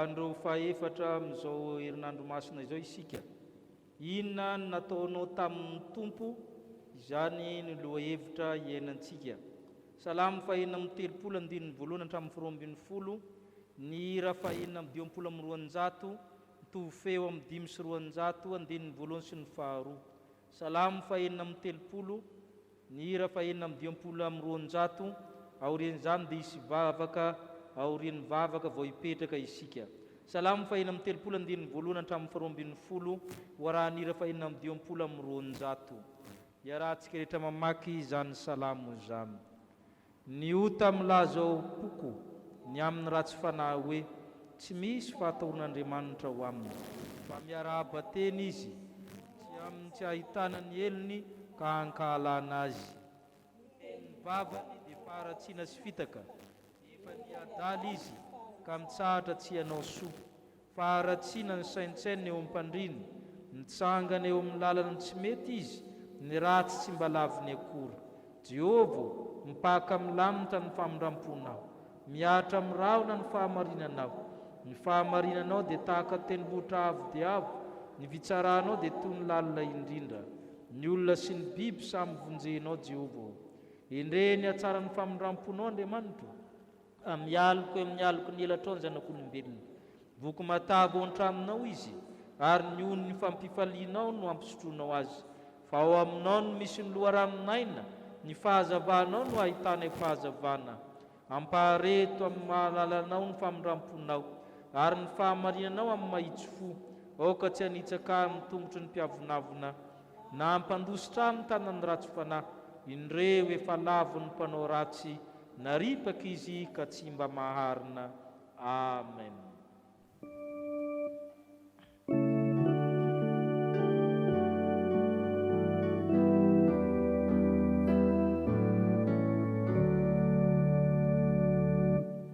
Andro fahefatra amin'izao herinandro masina izao isika. Inona no nataonao tamin'ny Tompo? Izany no lohahevitra iainantsika. Salamo fahena amby telopolo andininy voalohany hatramin'ny faharoa ambin'ny folo, ny hira fahena amby dimampolo amby roanjato Mitovy fehy eo amin'ny dimy sy roanjato andininy voalohany sy ny faharoa. Salamo fahenina amby telopolo, ny hira fahenina amby dimampolo amby roanjato, aorian'izany dia hisy vavaka aorian'ny vavaka vao hipetraka isika. Salamo fahenina amby telopolo andininy voalohany hatramin'ny faharoa ambin'ny folo ho arahan'ny hira fahenina amby dimampolo amby roanjato. Iarahantsika rehetra mamaky izany salamo izany. Ny ota milaza ao am-poko ny amin'ny ratsy fanahy hoe tsy misy fahataorin'Andriamanitra ho aminy, fa miarahaba tena izy tsy amin'ny tsy ahitana ny helony ka ankahalana azy. Ny tenin'ny vavany dia faharatsiana sy fitaka, efa niha-adala izy ka mitsahatra tsy hanao soa. Faharatsiana ny saintsaina eo amin'ny mpandrina, mitsangana eo amin'ny lalan'ny tsy mety izy, ny ratsy tsy mba laviny akory. Jehovah ô, mipaka milamitra ny famindram-ponao. Mihatra amin'ny rahona ny fahamarinanao. Ny fahamarinanao dia tahaka tendrombohitra avo dia avo, ny fitsaranao dia toy ny lalina indrindra. Ny olona sy ny biby samy vonjenao, Jehovah ô. Endrey ny hatsaran'ny famindram-ponao, Andriamanitro ô. Mialoka eo amin'ny aloky ny elatrao ny zanak'olombelona. Voky matavy ao an-tranonao izy, ary ny onin'ny fampifalianao no ampisotroinao azy. Fa ao aminao no misy ny loharanon-aina, ny fahazavanao no ahitanay fahazavana. Ampahare eto amin'ny maha-lalanao ny famindram-ponao, ary ny fahamarinanao amin'ny mahitsy fo. Aoka tsy hanitsaka ahy amin'ny tongotry ny mpiavonavona, na hampandositra amin'ny tanan'ny ratsim-panahy indreo efa lavon'ny mpanao ratsy naripaka izy ka tsy mba maharina. Amen.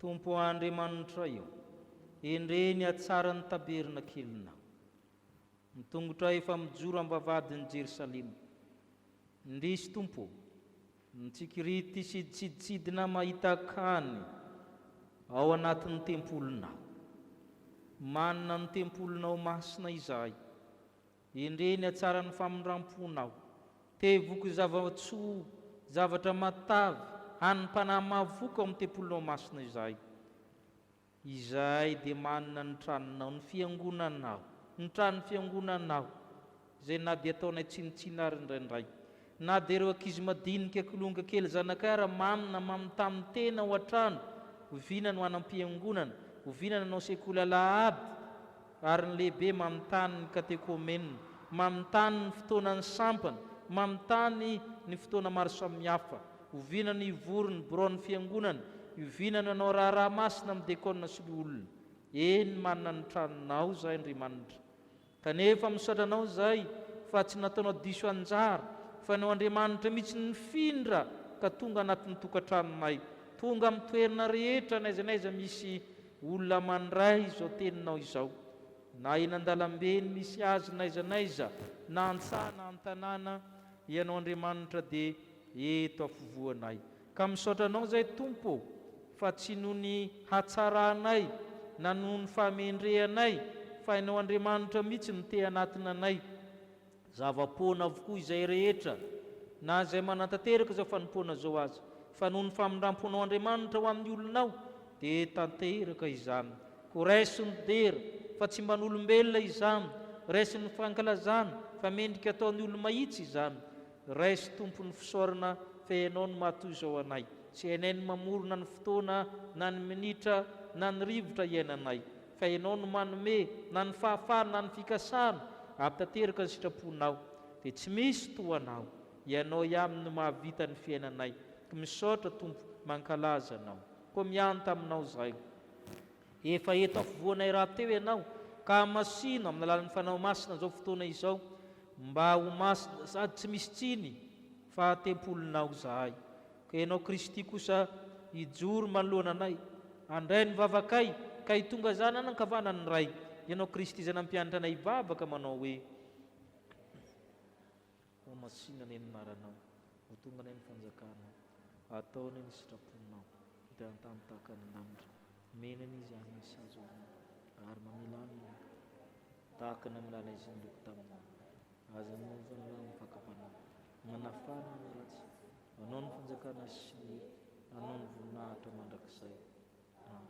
Tompo Andriamanitray ô, endrey ny hatsaran'ny tabernakelinao. Ny tongotray efa mijoro am-bavahadin'i Jerosalema, Indrisy Tompo ô! Mitsikirity sy tsiditsidina mahita Kany ao anatin'ny tempolinao. Manina ny tempolinao masina izahay. Endrey ny hatsaran'ny famindram-ponao. Te voky zava-tsoa, zavatra matavy, hanim-panahy mahavoky ao amin'ny tempolinao masina izahay. Izahay dia manana ny tranonao, ny fiangonanao, ny tranon'ny fiangonanao, izay na dia ataonay tsinontsinona ary indraindray, na dia ireo ankizy madinika kilonga kely zanakay ary mamy na mamy tamin'ny tena ho an-trano, oviana no hanam-piangonana, oviana no hanao sekoly alahady, Ary ny lehibe manontany ny katekomenina, manontany ny fotoanan'ny sampana, manontany ny fotoana maro samihafa. Oviana no hivory ny biraon'ny Fiangonana? Oviana no hanao raharaha masina amin'ny dekôna sy loholona? Eny, manana ny tranonao izahay, Andriamanitra. Kanefa misaotra Anao izahay fa tsy nataonao diso anjara, fa ny ao Andriamanitra mihitsy no nifindra ka tonga anatin'ny tokantranonay, tonga amin'ny toerana rehetra n'aiza n'aiza misy Olona mandray izao teninao izao, na eny an-dalambe eny misy azy n'aiza n'aiza, na an-tsaha na an-tanàna, Ianao Andriamanitra dia eto afovoanay. Ka misaotra Anao izay, Tompo ô, fa tsy noho ny hatsaranay na noho ny fahamendrehanay, fa Ianao Andriamanitra mihitsy no te-hanatona anay. Zava-poana avokoa izay rehetra, na izay manatanteraka izao fanompoana izao aza, fa noho ny famindram-ponao Andriamanitra ho amin'ny olonao, dia tanteraka izany. Koa raiso ny dera, fa tsy mba n'olombelona izany, raiso ny fankalazana, fa mendrika ataon'ny olo-mahitsy izany. Raiso Tompo ny fisaorana fa Ianao no maha-toy izao anay, sy hainay ny mamorona ny fotoana, na ny minitra, na ny rivotra iainanay. Fa Ianao no manome na ny fahafahana na ny fikasana hampitateraka ny sitraponao. Dia tsy misy toa Anao. Ianao ihany no mahavita ny fiainanay. Koa misaotra Tompo, mankalaza Anao. Koa miahy taminao izahay. Efa eto afovoanay rahateo Ianao, ka hamasino amin'ny alalan'ny Fanao Masina izao fotoana izao, mba ho masina sady tsy misy tsiny. Fa tempolinao izahay, ka Ianao Kristy kosa hijoro manoloana anay, handray ny vavakay, ka hitonga Zanany ankavanan'ny Ray, Ianao Kristy izay nampianatra anay hivavaka manao hoe, Ho masina anie ny anaranao, ho tonga anie ny fanjakanao, hatao anie ny sitraponao, dia an-tany tahaka ny lanitra, mena anie izany ny sazy ao aminao, ary mamela ny ongony, tahaka ny hamelainay izay nireko taminao. Aza miompy ny lalany fakam-panahy. Manafana ny ratsy. Anao ny fanjakana sy ny hery. Anao ny voninahitra mandrakizay. Amen.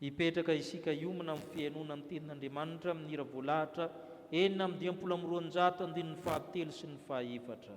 Hipetraka isika hiomana amin'ny fihainoana ny Tenin'Andriamanitra amin'ny hira voalahatra enina amby dimampolo amby roanjato andininy fahatelo sy ny fahaefatra.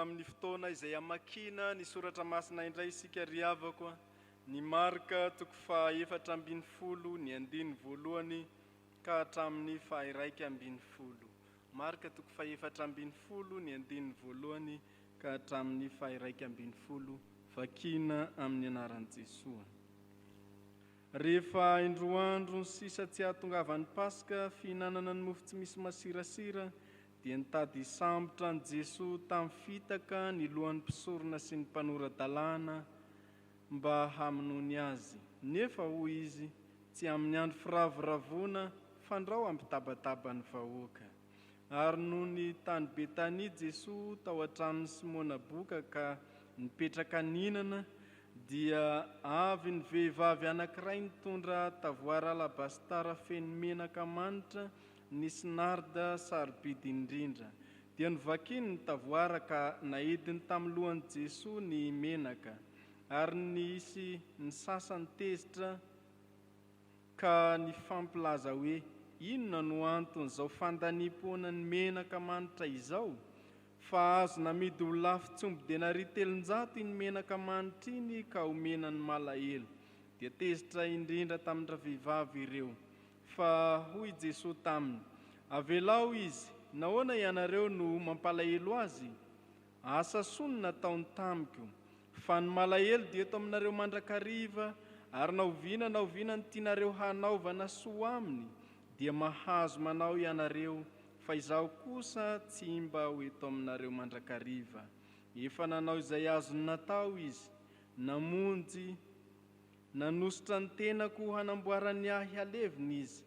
amin'ny fotoana izay amakina ny soratra masina indray isika ry havako ny marka toko fahaefatra ambin'ny folo ny andiny voalohany ka hatramin'ny fahiraika ambin'ny folo Marka toko fahefatra ambin'ny folo ny andininy voalohany ka hatramin'ny fahiraika ambin'ny folo Vakina amin'ny anaran'i Jesoa Rehefa indroa andro sisa tsy hahatongavan'ny Paska fihinanana ny mofo tsy misy masirasira dia nitady hisambotra an'i Jesoa tamin'ny fitaka ny lohan'ny mpisorona sy ny mpanora-dalàna mba hamonoany azy. Nefa hoy izy, Tsy amin'ny andro firavoravoana, fandrao hampitabataba ny vahoaka. Ary nony tany Betania Jesoa tao an-tranon'i Simona boka ka nipetraka nihinana, dia avy ny vehivavy anankiray nitondra tavoara alabasitara feno menaka manitra Ny Snard sarobidy indrindra. Dia novakiny ny tavoara ka naidiny tamin'ny lohan'i Jesoa ny menaka. Ary nisy ny sasany tezitra ka nifampilaza hoe, Inona no anton'izao fandaniam-poana ny menaka manitra izao? Fa azo namidy ho lafo tsy omby denaria telonjato iny menaka manitra iny ka omena ny malahelo. Dia tezitra indrindra tamin-dravehivavy ireo. Fa hoy Jesoa taminy, Avelao izy, nahoana ianareo no mampalahelo azy? Asa soa no nataony tamiko. Fa ny malahelo dia eto aminareo mandrakariva, ary na oviana na oviana no tianareo hanaovana soa aminy, dia mahazo manao ianareo, fa izaho kosa tsy mba ho eto aminareo mandrakariva. Efa nanao izay azony natao izy, namonjy. Nanosotra ny tenako ho hanamboaran'ny ahy halevina Izy,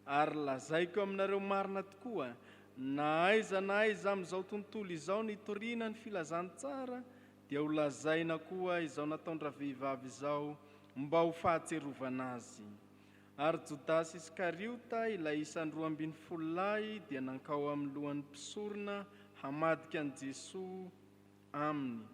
ary lazaiko aminareo marina tokoa, na aiza na aiza amin'izao tontolo izao nitoriana ny Filazantsara, dia ho lazaina koa izao nataon-dravehivavy izao mba ho fahatsiarovana azy. Ary Jodasy Iskariota, ilay isan'ny roa ambin'ny folo lahy, dia nankao amin'ny lohan'ny mpisorona hamadika an'i Jesoa, aminy.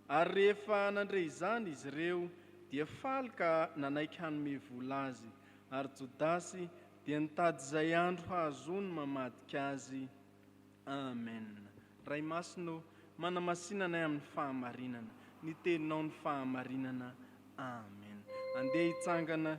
Ary rehefa nandre izany izy ireo, dia faly ka nanaiky hanome vola azy. Ary Jodasy dia nitady izay andro hahazoany mamadika azy. Amen. Ray Masina ô, manamasina anay amin'ny fahamarinana. Ny Teninao no fahamarinana. Amen. Andeha hitsangana.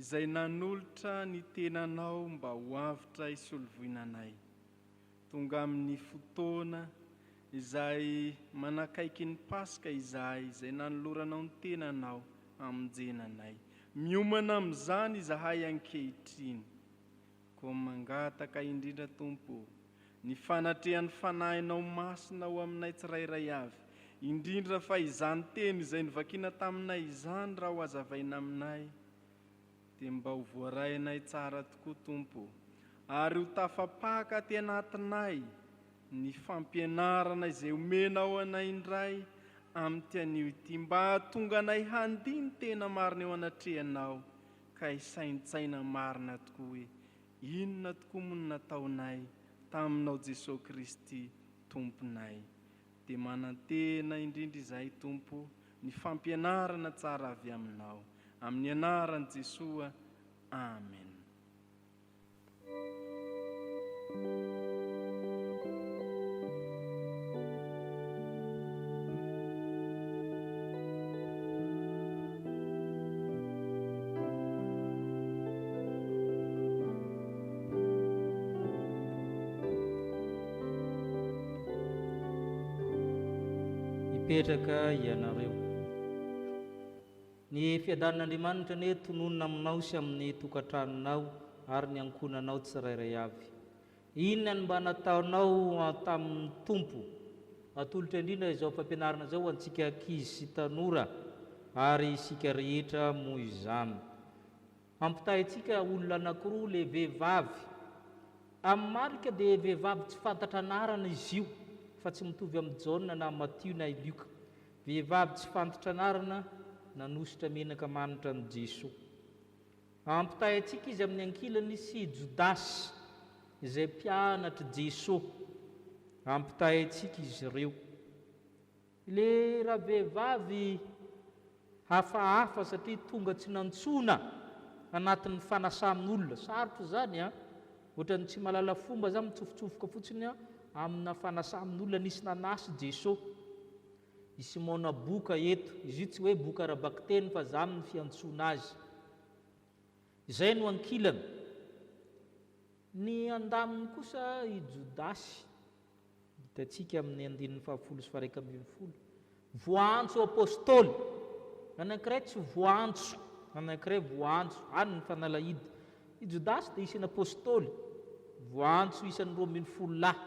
Izay nanolotra ny tenanao mba ho avotra hisolovoina anay. Tonga amin'ny fotoana izay manakaiky ny Paska izahay izay nanoloranao ny tenanao hamonjena anay. Miomana amin'izany izahay ankehitriny. Koa mangataka indrindra Tompo o, ny fanatrehan'ny Fanahinao Masina ho aminay tsirairay avy, indrindra fa izany teny izay novakiana taminay izany raha ho azavaina aminay dia mba ho voarainay tsara tokoa Tompo o, ary ho tafapaka aty anatinay ny fampianarana izay omenao anay indray amin'ity anio ity mba hahatonga anay handini-tena marina eo anatrehanao ka hisaintsaina marina tokoa hoe inona tokoa moa no nataonay taminao Jesosy Kristy Tomponay. Dia manantena indrindra izahay Tompo ny fampianarana tsara avy Aminao. Amin'ny anaran'i Jesoa, Amen. hipetraka ianareo. Ny fiadanin'Andriamanitra anie tononina aminao sy amin'ny tokantranonao ary ny ankohonanao tsirairay avy. Inona no mba nataonao tamin'ny Tompo? Atolotra indrindra izao fampianarana izao ho antsika ankizy sy tanora ary isika rehetra moa izany. Ampitahaintsika olona anankiroa le vehivavy. Amin'ny marika dia vehivavy tsy fantatra anarana izy io fa tsy mitovy amin'i Jaona na Matio na i Lioka. Vehivavy tsy fantatra anarana nanosotra menaka manitra an'i Jesoa. Ampitahaintsika izy amin'ny ankilany sy i Jodasy izay mpianatr'i Jesoa. Ampitahaintsika izy ireo. Le ravehivavy hafahafa satria tonga tsy nantsoina anatin'ny fanasan'olona. Sarotra izany an! Ohatran'ny tsy mahalala fomba za mitsofotsofoka fotsiny amina fanasan'olona nisy nanasa i Jeso. I Simona boka eto, izy io tsy hoe boka ara-bakiteny fa zany ny fiantsoana azy. Izay no ankilany. Ny andaminy kosa i Jodasy. Hitantsika amin'ny andininy fahafolo sy faharaika ambin'ny folo. Voaantso apostoly. Ny anankiray tsy voaantso, ny anankiray voaantso. Any ny fanalahidy. I Jodasy dia isan'ny apostoly. Voaantso isan'ny roa ambin'ny folo lahy.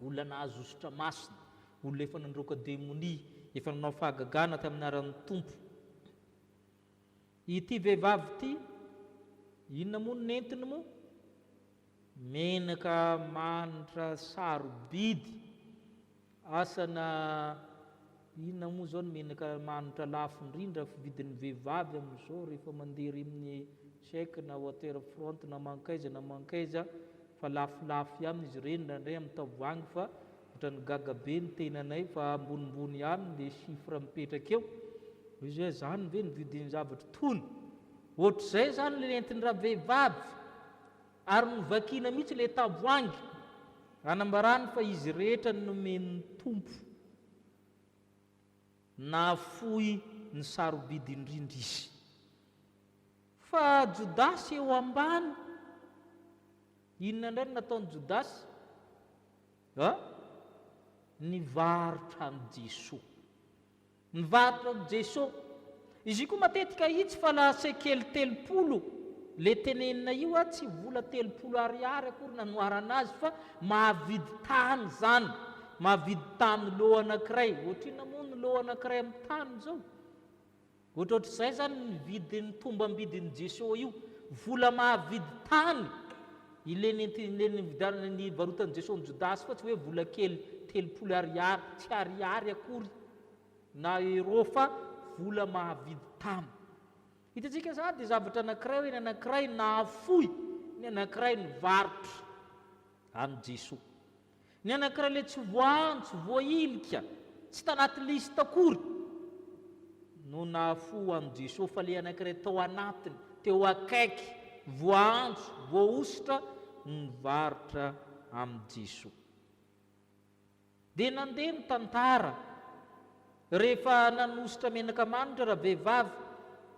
Olona nahazo hosotra masina. Olona efa nandroaka demonia. Efa nanao fahagagana tamin'ny anaran'ny Tompo. Ity vehivavy ity inona moa no nentiny moa? Menaka manitra sarobidy, asana inona moa izao ny menaka manitra lafo indrindra fidin'ny vehivavy amin'izao rehefa mandeha ery amin'ny check na water front na mankaiza na mankaiza fa lafolafo ihany izy ireny indraindray amin'ny tavoahangy fa Otrany gaga be ny tenanay fa ambonimbony ihany le chiffre mipetraka eo, hoe zay zany ve ny vidin'ny zavatra tony? Ohatr'izay zany le nentin-dravehivavy ary novakiana mihitsy le tavoahangy anambarany fa izy rehetra nomen'ny Tompo. Nahafoy ny sarobidy indrindra izy. Fa Jodasy eo ambany. Inona indray no nataon'i Jodasy? A, Nivarotra an'i Jesoa. Nivarotra an'i Jesoa. Izy io koa matetika hitsy fa la sekely telopolo, ilay tenenina io a, tsy vola telopolo ariary akory nanoharana azy fa mahavidy tany izany, mahavidy tany lot anankiray. Ohatrinona moa ny lot anankiray amin'ny tany izao? Ohatrohatr'izay izany ny vidin'ny tombam-bidin'i Jesosy io, vola mahavidy tany. Ilay nividianana, nivarotan'i Jesosy an'i Jodasy koa tsy hoe vola kely telopolo ariary, tsy ariary akory na euro fa vola mahavidy tany. Hitantsika izany dia zavatra anankiray hoe ny anankiray nahafoy, ny anankiray nivarotra an'i Jesosy. Ny anankiray le tsy voantso, voahilika, tsy tanaty liste akory no nahafoha an'i Jesosy fa le anankiray tao anatiny, teo akaiky, voaantso, voahosotra no nivarotra amin'i Jesosy. Dia nandeha ny tantara, rehefa nanosotra menaka manitra ravehivavy,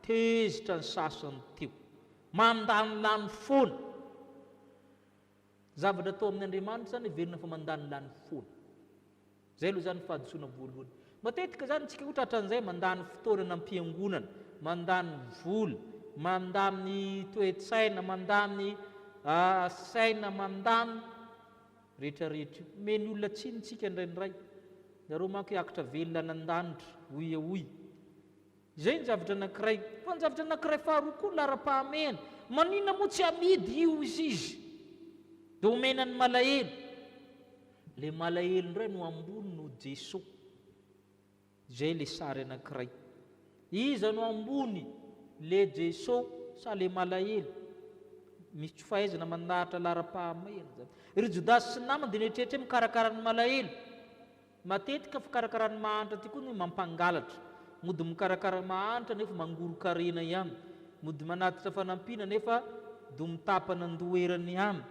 tezitra ny sasany teo, mandany lany foana. Zavatra atao amin' Andriamanitra izany heverina fa mandany lany foana. Izay aloha izany fahadisoana voalohany. Matetika izany isika ohatra hatran'izay mandany fotoana any am-piangonana, mandany vola, mandany toe-tsaina, mandany ah, saina, mandany rehetra rehetra io. Omeny olona tsiny isika indraindray. Ianareo manko hiakatra velona any an-danitra, hoy e hoy. Izay ny zavatra anankiray. Fa ny zavatra anankiray faharoa koa laharam-pahamehana. Maninona moa tsy amidy io izy izy dia omena ny malahelo. Ilay malahelo indray no ambony noho Jesoa. Izay ilay sary anankiray. Iza no ambony? Ilay Jesoa sa ilay malahelo? Misy tsy fahaizana mandahatra laharam-pahamehana izany. Ry Jodasy sy ny namany dia nieritreritra hoe mikarakara ny malahelo. Matetika fikarakaran'ny mahantra ity koa no mampangalatra. Mody mikarakara mahantra nefa mangoron-karena ihany. Mody manatitra fanampiana nefa do mitapana an-doha erany ihany.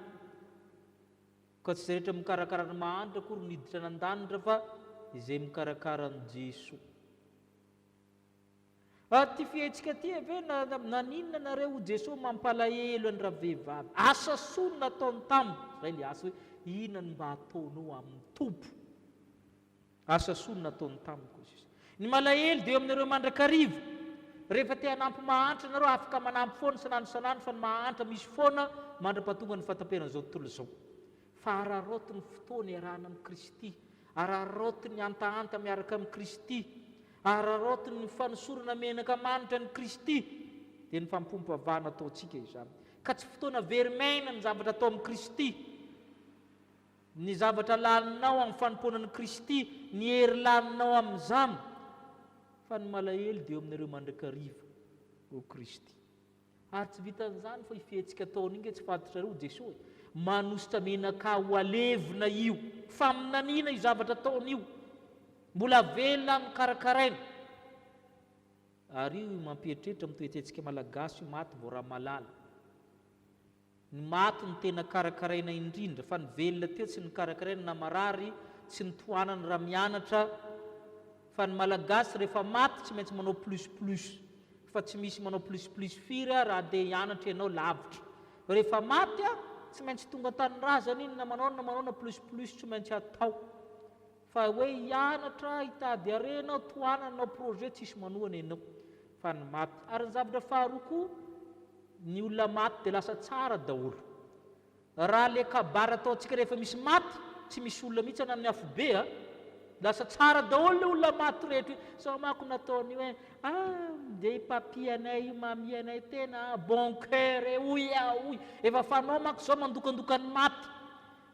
Koa tsy izay rehetra mikarakara ny mahantra akory no hiditra any an-danitra fa izay mikarakara an'i Jesoa. Ary ty fihetsika ty ve na naninona nareo o Jeso mampalahelo any ravehivavy asa soa no nataony taminy zay le asa hoe inona no mba ataonao aminy Tompo asa soa no nataony taminy ko Jeso ny malahelo dia eo aminareo mandrakariva rehefa te hanampy mahantra nareo afaka manampy foana sanandro sanandro fa ny mahantra misy foana mandrapatonga ny fataperan'izao tontolo izao Fa araraoty ny fotoana iarahana amin'i Kristy, araraoty ny hantahanta miaraka amin'i Kristy, araraoty ny fanosorana menaka manitra an'i Kristy, dia ny fampom-pavahana ataontsika izany. Ka tsy fotoana very maina ny zavatra atao amin'i Kristy, ny zavatra laninao amin'ny fanompoana an'i Kristy, ny hery laninao amin'izany, fa ny malahelo dia eo aminareo mandrakariva, hoy Kristy. Ary tsy vitan'izany fa io fihetsika ataony io nge tsy fantatrareo ho Jesoa e. Manosotra menaka ho alevina io. Faminaniana io zavatra ataony io. Mbola velona aminy karakaraina. Ary io mampieritreritra amin'ny toetsentsika malagasy io maty vao ramalala. Ny maty no tena karakaraina indrindra fa ny velona teo tsy nokarakaraina na marary tsy notohanana raha mianatra fa ny malagasy rehefa maty tsy maintsy manao plus plus fa tsy misy manao plus plus firy a raha andeha hianatra ianao lavitra fa rehefa maty a tsy maintsy tonga an-tanindrazana iny na manao na manao na plus plus tsy maintsy atao Fa hoe hianatra, hitady harena aho, tohanana hanao projet tsisy manohana ianao fa ny maty. Ary ny zavatra faharoa koa, ny olona maty dia lasa tsara daholo. Raha le kabary ataontsika rehefa misy maty, tsy misy olona mihitsy na ny afobe a, lasa tsara daholo le olona maty rehetra io. Sao manko nataony hoe ah ndeha i papy anay io, mamie anay tena bon coeur e, hoy aho hoy. Efa fanao manko zao mandokandoka ny maty.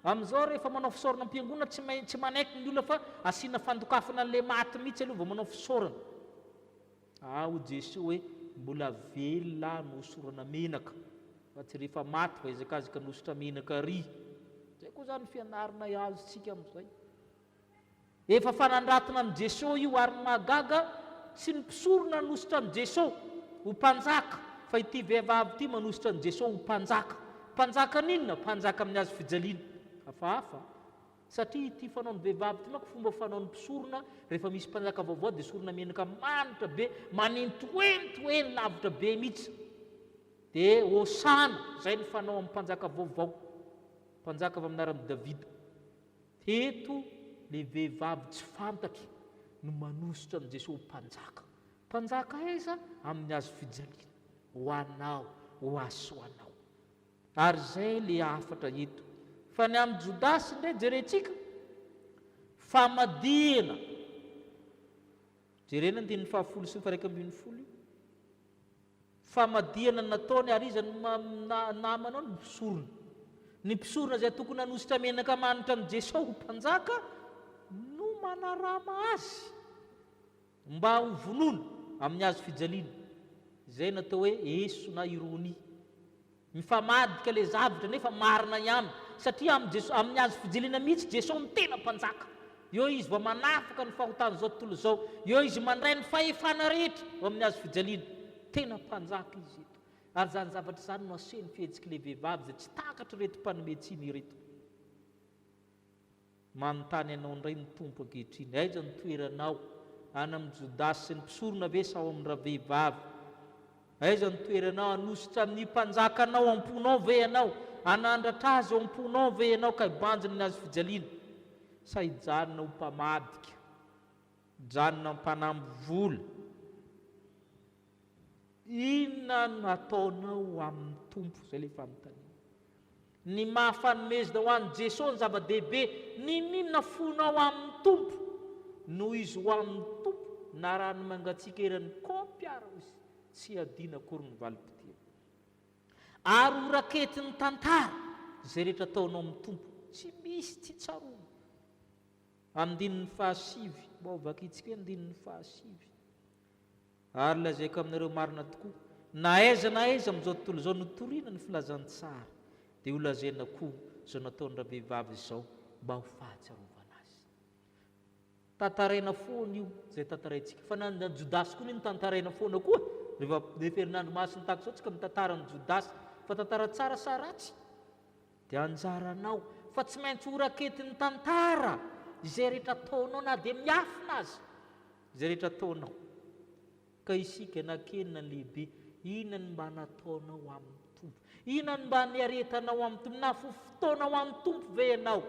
Amin'izao ary rehefa manao fisaorana am-piangonana tsy maintsy manaiky ny olona fa asiana fandokafana an'ilay maty mihitsy aloha vao manao fisaorana. Aa hoy Jesoa hoe mbola velona aho no hosorana menaka fa tsy rehefa maty vao hiazakazaka ny hosotra menaka ary. Izay koa izany ny fianaranay azontsika amin'izay. Efa fanandratona an'i Jesosy io ary ny mahagaga tsy ny mpisorona hanosotra an'i Jesosy ho mpanjaka fa ity vehivavy ity manosotra an'i Jesosy ho mpanjaka. Mpanjakan'inona? Mpanjaka amin'ny hazo fijaliana. Hafahafa satria ity fanaon'ny vehivavy ity manko fomba fanaon'ny mpisorona rehefa misy mpanjaka vaovao dia sorona menaka manitra be manentoento eny lavitra be mihitsy dia hosana izay ny fanao amin'ny mpanjaka vaovao mpanjaka avy amin'ny anaran'i Davida. Teto le vehivavy tsy fantatro no manosotra an'i Jesoa ho mpanjaka. Mpanjaka aiza? Amin'ny hazo fijaliana. Ho anao, ho ahy sy ho anao. Ary izay le hafatra eto. Fa ny amin'i Jodasy indray jerentsika, famadihana. Jerena andininy fahafolo sy ny faha iraika ambin'ny folo io. Famadihana nataony ary iza no namanao ny mpisorona? Ny mpisorona izay tokony hanosika menaka manitra an'i Jesosy ho mpanjaka no manarama azy mba ho vonoina amin'ny hazo fijaliana, izay natao hoe eso na ironia. Mifamadika le zavtra nefa marina ihany satria am Jeso amin azo fijilina mihitsy Jeso no tena mpanjaka eo izy vao manafaka ny fahotan zao tontolo zao eo izy mandray ny fahefana rehetra eo amin azo fijaliana tena mpanjaka izy eto ary zany zavatra izany no aseho ny fihetsik le vehivavy izay tsy takatr reto mpanome tsiny ireto. Manontany anao indray ny Tompo ankehitriny, Aiza ny toeranao? Any amin'i Jodasy sy ny mpisorona ve sa ao amin'ny ravehivavy? Aiza ny toeranao? Hanositra amin'ny mpanjakanao am-ponao ve ianao? Hanandratra azy ao am-ponao ve ianao ka hibanjina ny hazofijaliana? Sa hijanona ho mpamadika, hijanona mpanamby vola? Inona no hataonao amin'ny Tompo? Izay ilay fanontaniana. Ny maha fanomezna ho an'i Jeso ny zava-dehibe, Nininona fonao amin'ny Tompo? Noho izy ho amin'ny Tompo na raha ny mangatsiaka eran'ny kaopy ara izy, tsy adino akory ny valim-potoana. Ary ho raketin'ny tantara, izay rehetra ataonao amin'ny Tompo, tsy misy tsy tsaroany. Andininy fahasivy, mba ho vakintsika hoe andininy fahasivy. Ary lazaiko aminareo marina tokoa, na aiza na aiza amin'izao tontolo izao notorina ny filazantsara, dia holazaina koa izao nataon'ny ravehivavy izao mba ho fahatsiarovana azy. Tantaraina foana io izay tantaraintsika, fa na ny Jodasy koa anie notantaraina foana koa e! Rehefa, rehefa herinandro masin'ny Tax izao tsika mitantara ny Jodasy, fa tantara tsara sa ratsy? Dia anjaranao fa tsy maintsy ho raketin'ny tantara izay rehetra ataonao na dia miafina aza izay rehetra ataonao. Ka isika na kely na lehibe, inona no mba nataonao amin'ny Tompo? Inona no mba niaretanao amin'ny Tompo? Nahafoy fotoana ho an'ny Tompo ve ianao?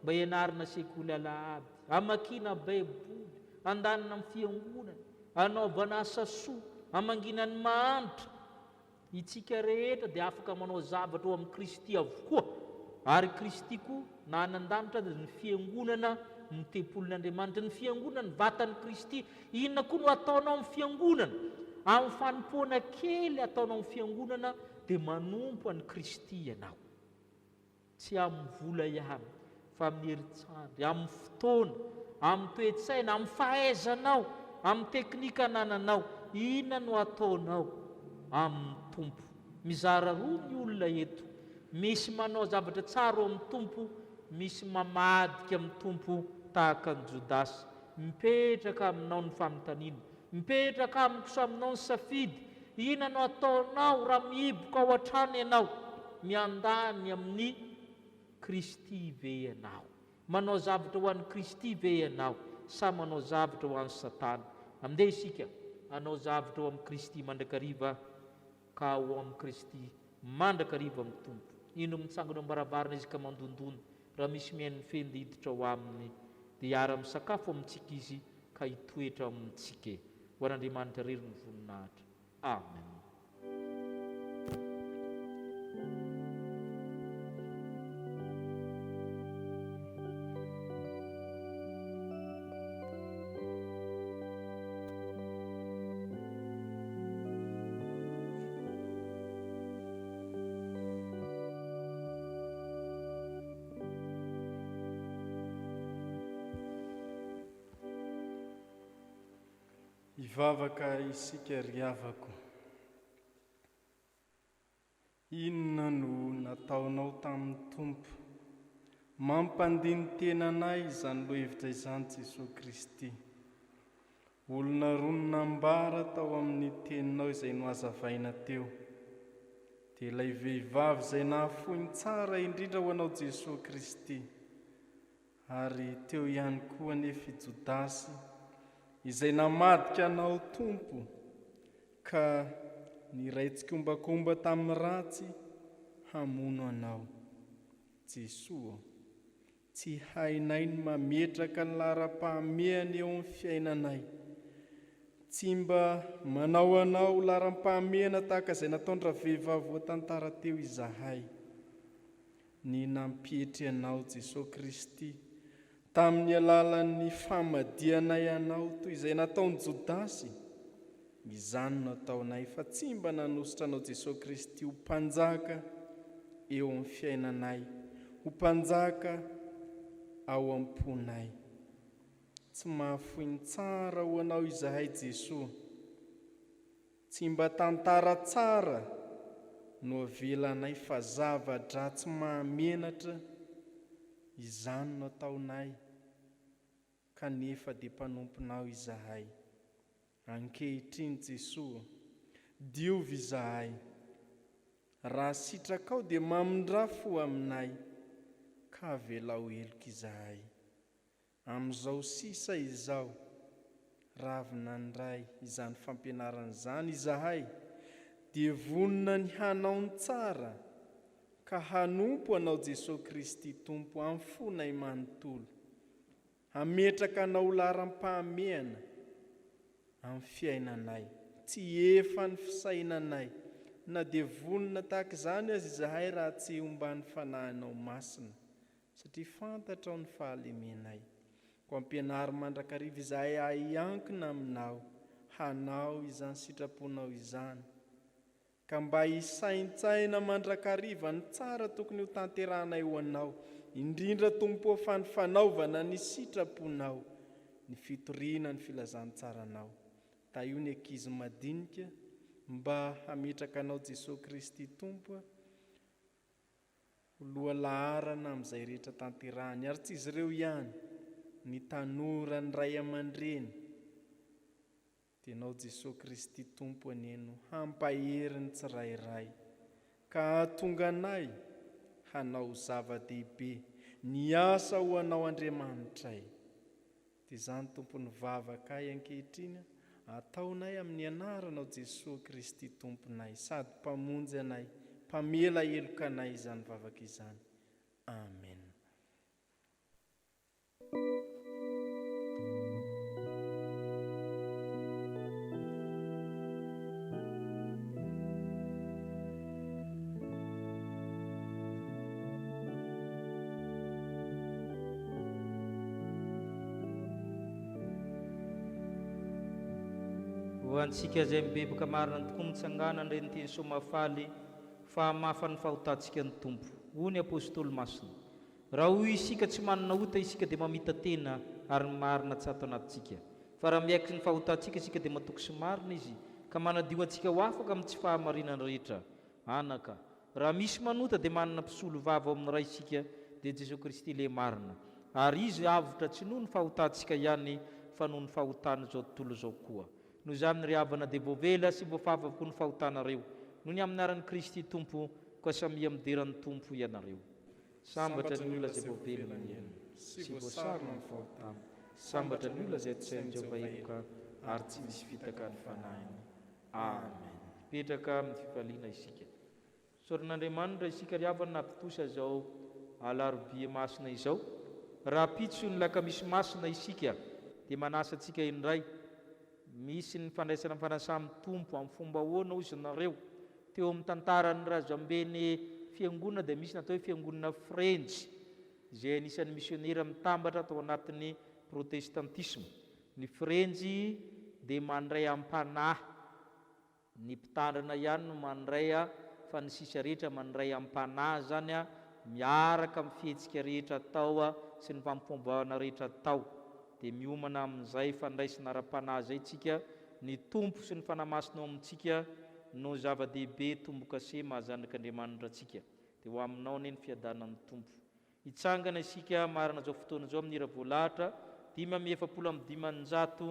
Mba ianarana sekoly alahady, amakiana baiboly, andanina amin'ny fiangonana, anaovana asa soa, hamangiana ny mahantra, Itsika rehetra dia afaka manao zavatra ao amin'i Kristy avokoa, ary Kristy koa na any an-danitra aza ny Fiangonana no tempolin'Andriamanitra. Ny Fiangonana ny vatan'i Kristy. Inona koa no ataonao amin'ny Fiangonana? Amin'ny fanompoana kely ataonao amin'ny Fiangonana dia manompo an'i Kristy ianao. Tsy amin'ny vola ihany, fa amin'ny herintsandry, amin'ny fotoana, amin'ny toe-tsaina, amin'ny fahaizanao, amin'ny teknika anananao. Inona no ataonao amin'ny Tompo? Mizara roa ny olona eto, misy manao zavatra tsara eo amin'ny Tompo, misy mamadika amin'ny Tompo tahaka an'i Jodasy. Mipetraka aminao ny fanontaniana, Mipetraka amiko sy aminao ny safidy, inona no ataonao raha mihiboka ao an-trano ianao? Miandany amin'i Kristy ve ianao? Manao zavatra ho an'i Kristy ve ianao sa manao zavatra ho an'i Satana? Mandeha isika hanao zavatra ho amin'i Kristy mandrakariva. Ka ao amin'i Kristy, mandrakariva amin'ny Tompo. Indro mitsangana eo am-baravarana Izy ka mandondona, raha misy mihaino ny fehiny dia hiditra ao Aminy. Dia hiara-misakafo amintsika Izy ka hitoetra ao amintsika e. Ho an'Andriamanitra irery ny voninahitra. Amen. Hivavaka isika ry havako. Inona no nataonao tamin'ny Tompo? Mampandini-tena anay izany lohevitra izany Jesoa Kristy. Olona roa no nambara tao amin'ny teninao izay nohazavaina teo. Dia ilay vehivavy izay nahafoiny tsara indrindra ho anao Jesoa Kristy. Ary teo ihany koa anefa i Jodasy, izay namadika Anao, Tompo, ka niray tsikombakomba tamin'ny ratsy hamono Anao. Jesoa ô, tsy hainay ny mametraka ny laharam-pahamehana eo amin'ny fiainanay. Tsy mba manao Anao laharam-pahamehana tahaka izay nataon-dravehivavy voatantara teo izahay. ny nampietry anao Jesoa Kristy tamin'ny alalan'ny famadihanaay anao toy izay nataon'i Jodasy, izany no ataonay fa tsy mba nanosotra anao Jesoa Kristy ho Mpanjaka eo amin'ny fiainanay, ho Mpanjaka ao am-ponay. Tsy mahafoy ny tsara ho anao izahay Jesoa. Tsy mba tantara tsara no avelanay fa zava-dratsy mahamenatra izany no ataonay kanefa dia mpanomponao izahay. Ankehitriny Jesoa ô, diovy izahay. Raha sitrakao dia mamindrà fo aminay ka avelao heloka izahay. Amin'izao sisa izao, raha avy nandray izany fampianarana izany izahay, dia vonona ny hanao ny tsara ka hanompo Anao Jesoa Kristy Tompo amin'ny fonay manontolo, hametraka Anao ho laharam-pahamehana amin'ny fiainanay. Tsy efa ny fisainanay, na dia vonona tahaka izany aza izahay raha tsy omban'ny Fanahinao Masina. Satria fantatrao ny fahalemenay. Koa ampianaro mandrakariva izahay hahiankina aminao, hanao izany sitraponao izany. Ka mba hisaintsaina mandrakariva ny tsara tokony ho tanterahanay ho anao, indrindra Tompo ô fa ny fanaovana ny sitraponao, ny fitoriana ny filazantsaranao. Tahio ny ankizy madinika mba hametraka anao Jesoa Kristy Tompo a. Ho lohalaharana amin'izay rehetra tanterahiny. Ary tsy izy ireo ihany. Ny tanora, ny ray aman-dreny. Dia Ianao Jesoa Kristy Tompo anie no hampahery ny tsirairay. Ka hahatonga anay hanao zava-dehibe. Ny asa ho Anao Andriamanitray. Dia izany Tompo ny vavakay ankehitriny a, ataonay amin'ny anaranao Jesoa Kristy Tomponay sady Mpamonjy anay, Mpamela heloka anay izany vavaka izany. Amen. Ho antsika izay mibevoka marina ny tokoa mitsangana an'ireny teny soa mahafaly fa hamafa ny fahotantsika ny Tompo. Hoy ny Apostoly Masina, Raha hoy isika tsy manana ota isika dia mamita-tena ary ny marina tsy ato anatintsika. Fa raha miaiky ny fahotantsika isika dia matoky sy marina Izy, ka manadio antsika ho afaka amin'ny tsy fahamarinana rehetra. Anaka, raha misy manota dia manana mpisolovava ao amin'ny Ray isika, dia Jesoa Kristy Lehy marina. Ary Izy avotra tsy noho ny fahotantsika ihany fa noho ny fahotan'izao tontolo izao koa. Noho izany ry havana dia voavela sy voafafa avokoa ny fahotanareo, noho ny amin'ny anaran'i Kristy Tompo, koa samia midera ny Tompo ianareo. Sambatra ny olona izay voavelona ny ainy sy voasarona ny fahotana. Sambatra ny olona izay tosain'i Jehovah heloka ary tsy misy fitaka ny fanahiny. Amen. Hipetraka amin'ny fifaliana isika. Isaoran'Andriamanitra isika ry havana nahatontosa izao Alarobia Masina izao. Rahampitso ny Lakamisy Masina isika dia manasa antsika indray Misy ny fandraisana ny fanasan'ny Tompo amin'ny fomba ahoana hoy izy nareo? Teo amin'ny tantaran'ny razambeny fiangonana dia misy ny atao hoe fiangonana Frenjy izay anisan'ny misionera mitambatra tao anatin'ny protestantisma. Ny Frenjy dia mandray am-panahy. Ny mpitandrina ihany no mandray a fa ny sisa rehetra mandray ampanahy izany a miaraka amin'ny fihetsika rehetra atao a sy ny fampomboahana rehetra atao dia miomana amin'izay fandraisana ara-panahy izay tsika ny Tompo sy ny Fanahy Masina ao amintsika no zava-dehibe tombokase mahazanak'Andriamanitra antsika dia ho aminao anie ny fiadanan'ny Tompo Hitsangana isika marina zao fotoana zao amin'ny Ravoalahatra dimy amby efapolo amby dimanjato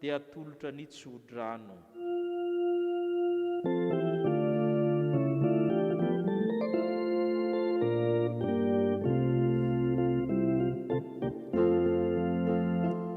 dia atolotra ny tsodrano.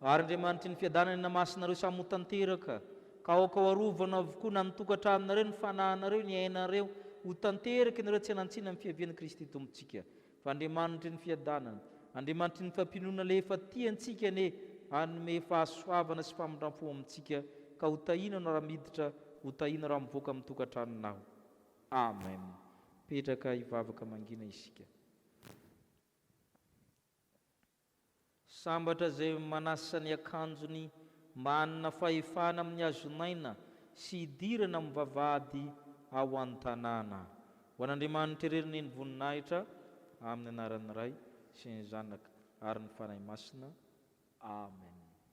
Ary Andriamanitry ny fiadanana ny namasy nareo samy ho tanteraka, ka aoka ho arovana avokoa na ny tokantranonareo, ny fanahinareo, ny ainareo, ho tanteraka ianareo tsy hanan-tsiny amin'ny fiavian'i Kristy Tompontsika. Fa Andriamanitry ny fiadanana, Andriamanitry ny fampinoana le efa tia antsika anie hanome fahasoavana sy famindram-po amintsika, ka ho tahinanao raha miditra, ho tahinao raha mivoaka amin'ny tokantranonao. Amen. Mipetraka hivavaka mangina isika. Sambatra izay manasa ny akanjony mba hanana fahefana amin'ny hazonaina sy hidirana amin'ny vavahady ao an-tanàna. Ho an'Andriamanitra irery ny ny voninahitra, amin'ny anaran'ny Ray sy ny Zanaka ary ny Fanahy Masina. Amen.